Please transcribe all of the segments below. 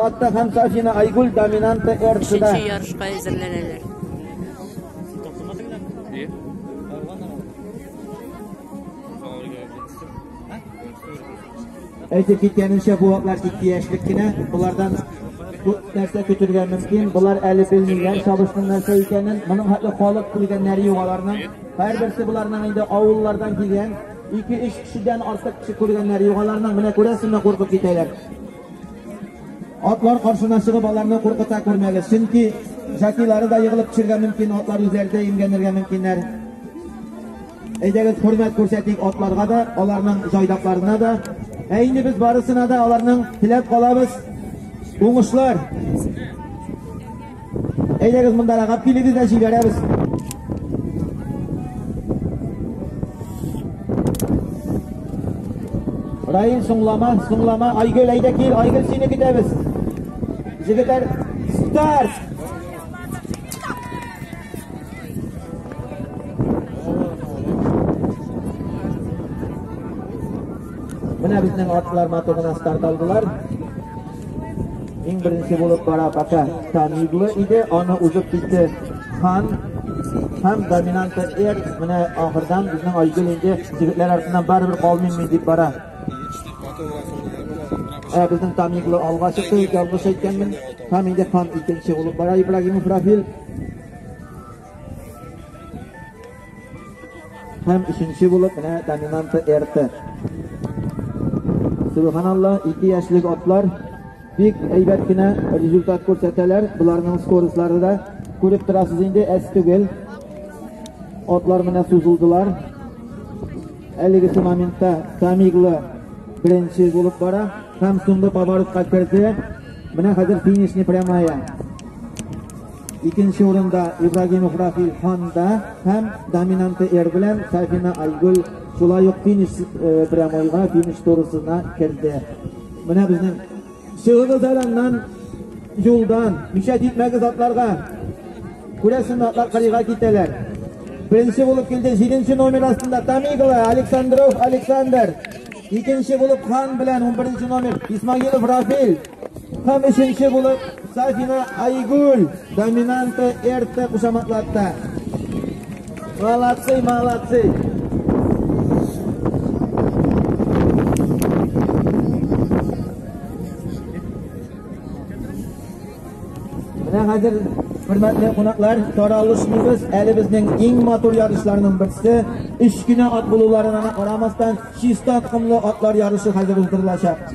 Фаттах һәм Сафина Айгуль доминанты РЦда. Өченче ярышка әзерләнәләр. Әйтеп киткәнемчә, бу ваклар тик тияшлек кенә. Болардан күп нәрсә көтергә мөмкин. Болар әле белмиләр сабышның нәрсә икәнен. Моның хәтле халык күргәннәре юк аларның. Һәрберсе боларның инде авыллардан килгән, 2-3 кешедән артык кеше күргәннәре юк аларның. Менә күрәсеңме, куркып китәләр. Атлар каршына чыгып аларны куркыта күрмәгез, чөнки җатилары да егылып төшергә мөмкин, атлар үзләре дә имгәнергә мөмкиннәр. Әйдәгез, хөрмәт күрсәтик атларга да, аларның җайдакларына да. Ә инде без барысына да аларның теләп калабыз. Уңышлар! Әйдәгез мондарагап килегез дә җибәрәбез. Райын соңлама, соңлама, Айгөл, әйдә кил, Айгөл сине көтәбез. Җегетләр, старт! Менә безнең атлар матугына старт алдылар. Иң беренче булып бара пока Тамиглы иде, аны узып китте Хан һәм доминанты Эр. Менә ахырдан безнең Айгөл инде егетләр артыннан барыбер калмыйммы дип бара. Ә безнең Тамиглы алга чыкты, ялгыш әйткәнмен. Һәм инде Хан икенче булып бара Ибрагимов Рафил. Һәм өченче булып менә доминанты Эрте. Субханалла, ике яшьлек атлар бик әйбәт кенә результат күрсәтәләр. Боларның скоростлары да күреп торасыз инде, әз түгел. Атлар менә сузылдылар. Әлегесе моментта Тамиглы беренче булып бара һәм соңгы поворотка керде. Менә хәзер финишный прямая. Икенче урында Ибрагимов Рафил Ханда һәм доминанты Эр белән Сафина Айгөл шулай ук финиш э, прямойга, финиш турысына керде. Менә безнең чыгыгыз әләннән юлдан, мишәт итмәгез атларга. Күрәсең, атлар кырыйга китәләр. Беренче булып килде 7 номер астында Тамигла Александров Александр. Икенче булып Хан белән 11 номер Исмагилов Рафил. Һәм өченче булып Сафина Айгуль доминанты эрте кушаматлатта. Молодцы, молодцы. Менә хәзер Хөрмәтле кунаклар, таралышмыйбыз. Әле безнең иң матур ярышларның берсе, үч кенә ат булуларына карамастан, чиста токымлы атлар ярышы хәзер уздырылачак.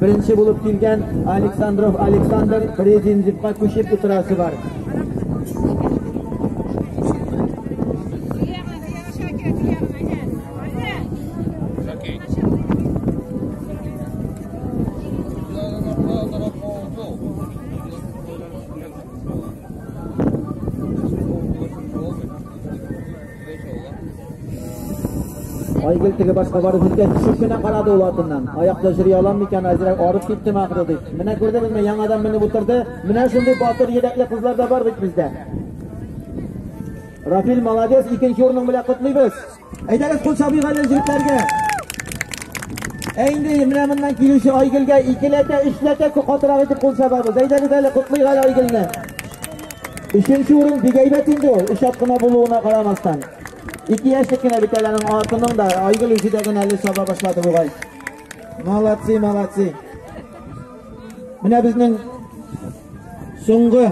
Беренче булып килгән Александров Александр Резинзевка күчеп утырасы бар. Айгөл теге башка барып җиткәч, төшеп кенә карады ул атыннан. Аякта йөри алам микән, әзрәк арып киттем ахры дип. Менә күрдегезме, яңадан менеп утырды. Менә шундый батыр йөрәкле кызлар да бар бит бездә. Рафил молодец, икенче урының белән котлыйбыз. Әйдәгез кул чабыйк әле җегетләргә. Ә инде менә моннан килүче Айгөлгә икеләтә, өчләтә катырак итеп кул чабабыз. Әйдәгез әле котлыйк әле Айгөлне. Өченче урын бик әйбәт инде ул, өч ат кына булуына карамастан. Ике яшьлек кенә бит әле аның атының да, Айгөл үзе дә генә әле саба башлады бугай. Молодцы, молодцы. Менә безнең соңгы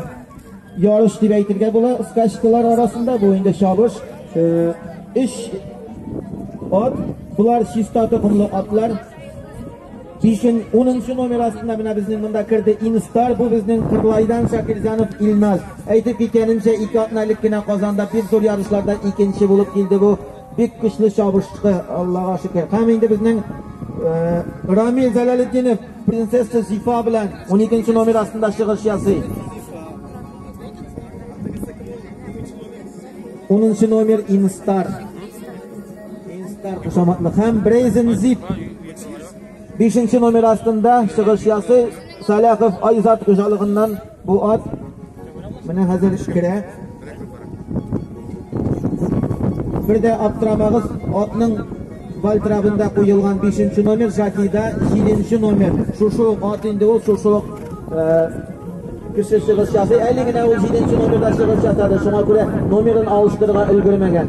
ярыш дип әйтергә була, скачкалар арасында бу инде чабыш. Э, өч ат, булар чиста токымлы атлар. Кичен 10 нчы номер астында менә безнең монда керде Инстар, бу безнең Кырлайдан Шакирҗанов Илназ. Әйтеп киткәнемчә, ике атна элек кенә Казанда бик зур ярышларда икенче булып килде бу. Бик көчле чабышты, Аллага шөкер. Һәм инде безнең э, Рамил Зәләлетдинов принцесса Зифа белән 12 нчы номер астында чыгыш ясый. 10 нчы номер Инстар. Инстар кушаматлы һәм Брейзен Зип. Бишенче номер астында чыгыш ясый Саляхов Айзат хуҗалыгыннан бу ат менә хәзер керә. Бер дә аптырамагыз, атның Вальтрабында куелган 5 номер, Жакида 7 номер. Шушы ат инде ул, шушы Кеше чыгыш ясый, әле генә ул җиденче номерда чыгыш ясады, шуңа күрә номерын алыштырырга өлгермәгән.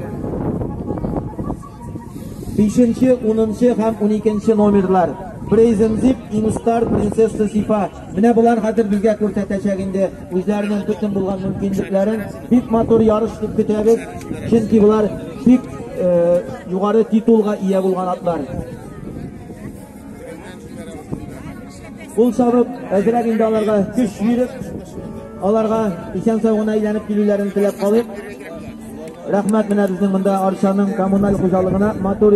Бишенче, унынчы һәм уникенче номерлар. Brazen Zip, Instar, Princess Sifa. Менә болар хәзер безгә күрсәтәчәк инде үзләренең бөтен булган мөмкинлекләрен. Бик матур ярыш дип көтәбез, чөнки болар бик югары титулга ия булган атлар. Ул сабып, әзрәк инде аларга көч биреп, аларга исән сау гына әйләнеп килүләрен теләп калыйк. Рәхмәт менә безнең монда Арчаның коммуналь хуҗалыгына матур